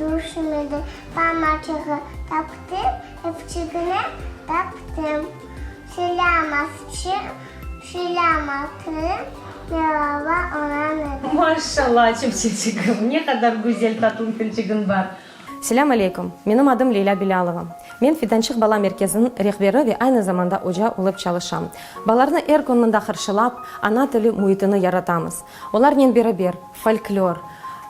Duşmedi, pamaçığı taptım, epçigine taptım. Selâm asçı, selâm atırım, melava onan edi. Maşşalla, çipçeçigim, ne qadar güzel, tatlı tilçigiñ bar. Selâm aleyküm, menim adım Leylâ Bilâlova. Men Fidançıq bala merkeziniñ rehberi ve aynı zamanda oca olıp çalışam. Balarnı er kün mında qırşılap, ana tili müitini yaratamız. Olarnen beraber folklor,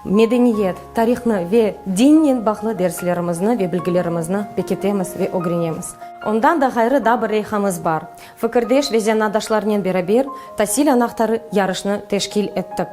medeniyet, tarihni ve dinnen bağlı derslerimizni ve bilgilerimizni pekitemiz ve ögrenemiz. Ondan da ğayrı da bir leyhamız bar. Fikirdeş ve zanaatdaşlarnen beraber Tasil anahtarı yarışnı teşkil ettik.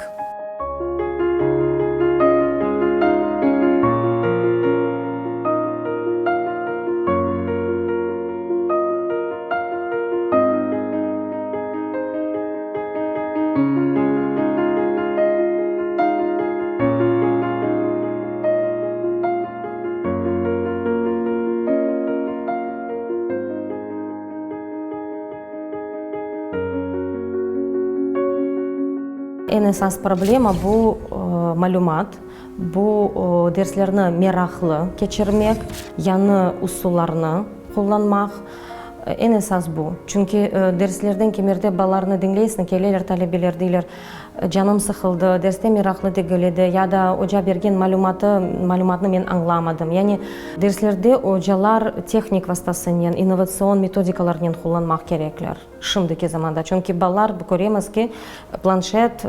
Eñ esas problema, bu malümat, bu derslerni meraqlı keçirmek, yañı usullarnı qullanmaq. Eñ esas bu. Çünki derslerden kemerde balalarnı diñleysıñ, keleler talebeler, deyler, Canım sıqıldı, derste meraqlı degil edi, ya da Oca bergen malümatı, malümatnı men añlamadım. Yani derslerde ocalar tehnik vastasınen, innovatsion metodikalarnen qullanmaq kerekler, şimdiki zamanda. Çünki balalar, köremiz ki, planşet,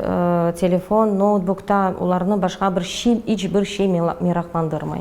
telefon, noutbukta olarnı başqa bir şey, iç bir şey meraqlandırmay.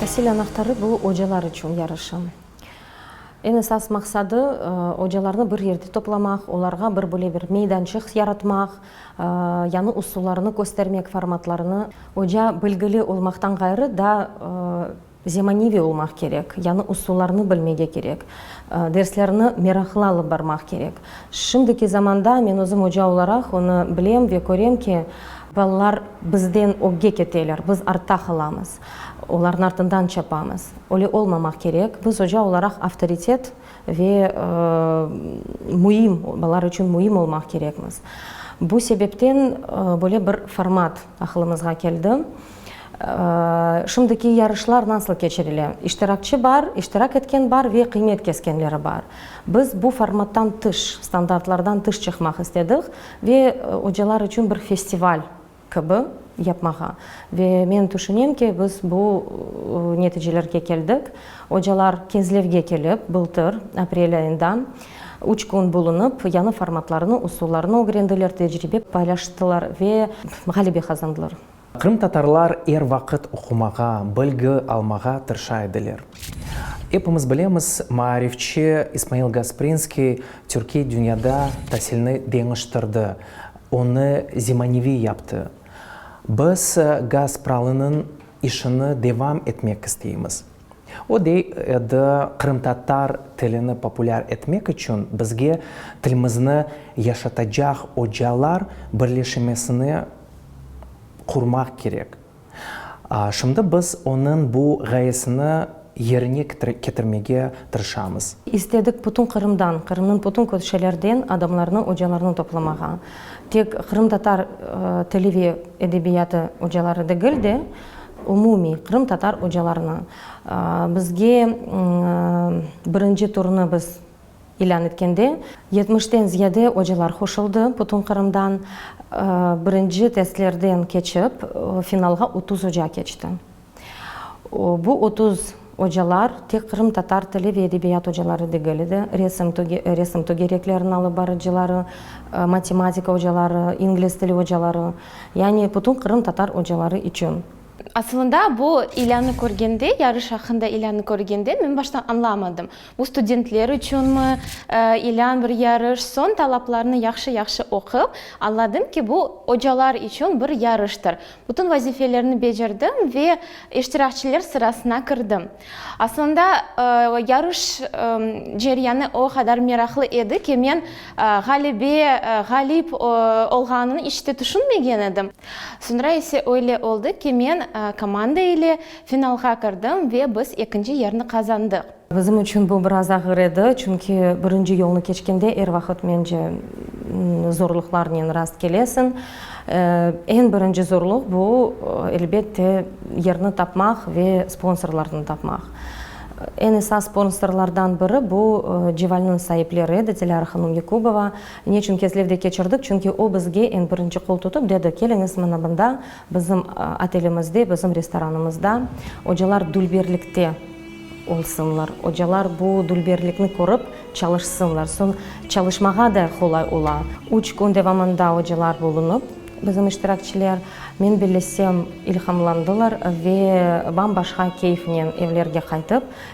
Tasil anahtarı, bu ocalar içün yarışım. Eñ esas maqsadı, ocalarnı bir yerde toplamaq, olarğa bir böyle bir meydançıq yaratmaq, yañı usullarnı köstermek, formatlarnı. Oca bilgili olmaqtan ğayrı, daa Zemaneviy olmaq kerek, yañı usullarnı bilmege kerek, derslerni meraqlı alıp barmaq kerek. Şimdiki zamanda, men özüm oca olaraq onı bilem ve körem ki, balalar bizden ögge keteler, biz artta qalamız, olarnı artından çapamız. Öyle olmamaq kerek, biz oca olaraq avtoritet ve müim, balalar içün müim olmaq kerekmiz. Bu sebepten böyle bir format aqılımızğa keldi. Şimdiki yarışlar nasıl keçirile? İştirakçi bar, iştirak etken bar ve qıymet keskenleri bar. Biz bu formattan tış, standartlardan tış çıqmaq istedik ve ocalar içün bir festival kibi yapmağa. Ve men tüşünem ki, biz bu neticelerge keldik. Ocalar Kezlevge kelip, bıltır aprel ayında üç kün bulunıp, yañı formatlarnı, usullarnı ögrendiler, tecribe paylaştılar ve ğalebe qazandılar. Qırımtatarlar er vaqıt oqumağa, bilgi almağa tırşa ediler. Epimiz bilemiz, maarifçi İsmail Gasprinskiy Türkiy dünyada tasilni deñiştirdi, onı zemaneviy yaptı. Biz Gaspralınıñ işini devam etmek isteymiz. O dey edi, qırımtatar tilini populâr etmek içün bizge tilmizni yaşatacaq ocalar birleşmesini qurmaq kerek. Şimdi biz onıñ bu ğayesini yerine ketirmege tırışamız. İstedik bütün Qırımdan, Qırımnıñ bütün köşelerden adamlarnı, ocalarnı toplamağa. Tek qırımtatar tili ve edebiyatı ocaları degil de, umumiy qırımtatar ocalarnı. Bizge birinci turnı biz İlân etkende, yetmişten ziyade ocalar qoşuldı bütün Qırımdan. Birinci testlerden keçip, finalğa otuz oca keçti. Bu otuz ocalar tek qırımtatar tili ve edebiyat ocaları degil edi, resim, resim tögerekleriniñ alıp barıcıları, matematika ocaları, ingliz tili ocaları, yani bütün qırımtatar ocaları içün. Asılında bu ilânı körgende, yarış aqqında ilânı körgende, men başta añlamadım. Bu studentler içünmi, ilân bir yarış, soñ talaplarnı yahşı-yahşı oqup, añladım ki, bu ocalar içün bir yarıştır. Bütün vazifelerni becerdim ve iştirakçiler sırasına kirdim. Aslında, yarış ceryanı o qadar meraqlı edi ki, men ğalebe, ğalip olğanını iç te tüşünmegen edim. Soñra ise öyle oldı ki, men komanda ile finalğa kirdim ve biz ekinci yerni qazandıq. Bizim içün bu biraz ağır edi, çünki birinci yolnı keçkende er vaqıt, mence, zorluqlarnen rast kelesiñ. Eñ birinci zorluq, bu, elbet de, yerni tapmaq ve sponsorlarnı tapmaq. Eñ esas sponsorlardan biri, bu, Cevalnıñ saipleri edi, Dilâra hanım Yakubova. Neçün kezlevde keçirdik? Çünki o, bizge eñ birinci qol tutıp dedi, keliñiz, mına mında Bizim otelimizde, bizim restoranımızda ocalar dülberlikte olsunlar, ocalar bu dülberlikni körip çalışsınlar, soñ çalışmağa da qolay ola. Üç kün devamında ocalar bulunıp, bizim iştirakçiler, men bellesem, ilhamlandılar ve bam-başqa keyfnen evlerge qaytıp,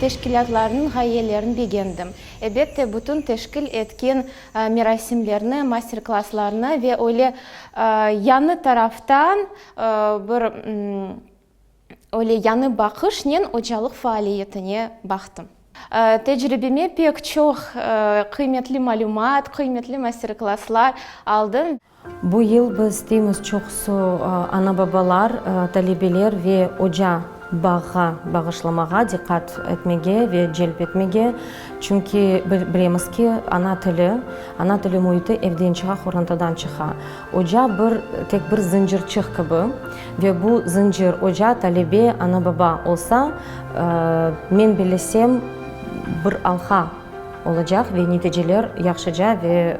Teşkilâtlarnıñ ğayelerini begendim. Ebette, bütün teşkil etken merasimlerni, master-klasslarnı ve öyle yañı taraftan, bir öyle yañı baqışnen ocalıq faaliyetine baqtım. Tecribeme pek çoq qıymetli malümat, qıymetli master-klasslar aldım. Bu yıl biz isteymiz, çoqusı ana-babalar, talebeler ve oca bağğa bağışlamağa, diqqat etmege ve celp etmege, çünki bilemiz ki, ana tili, ana tili müiti evden çığa, qorantadan çıqa. Oca bir, tek bir zıncırçıq kibi ve bu zıncır, oca, talebe, ana-baba olsa, men bilesem, bir alha. olacaq ve neticeler yahşıca ve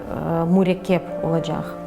mürekkep olacaq.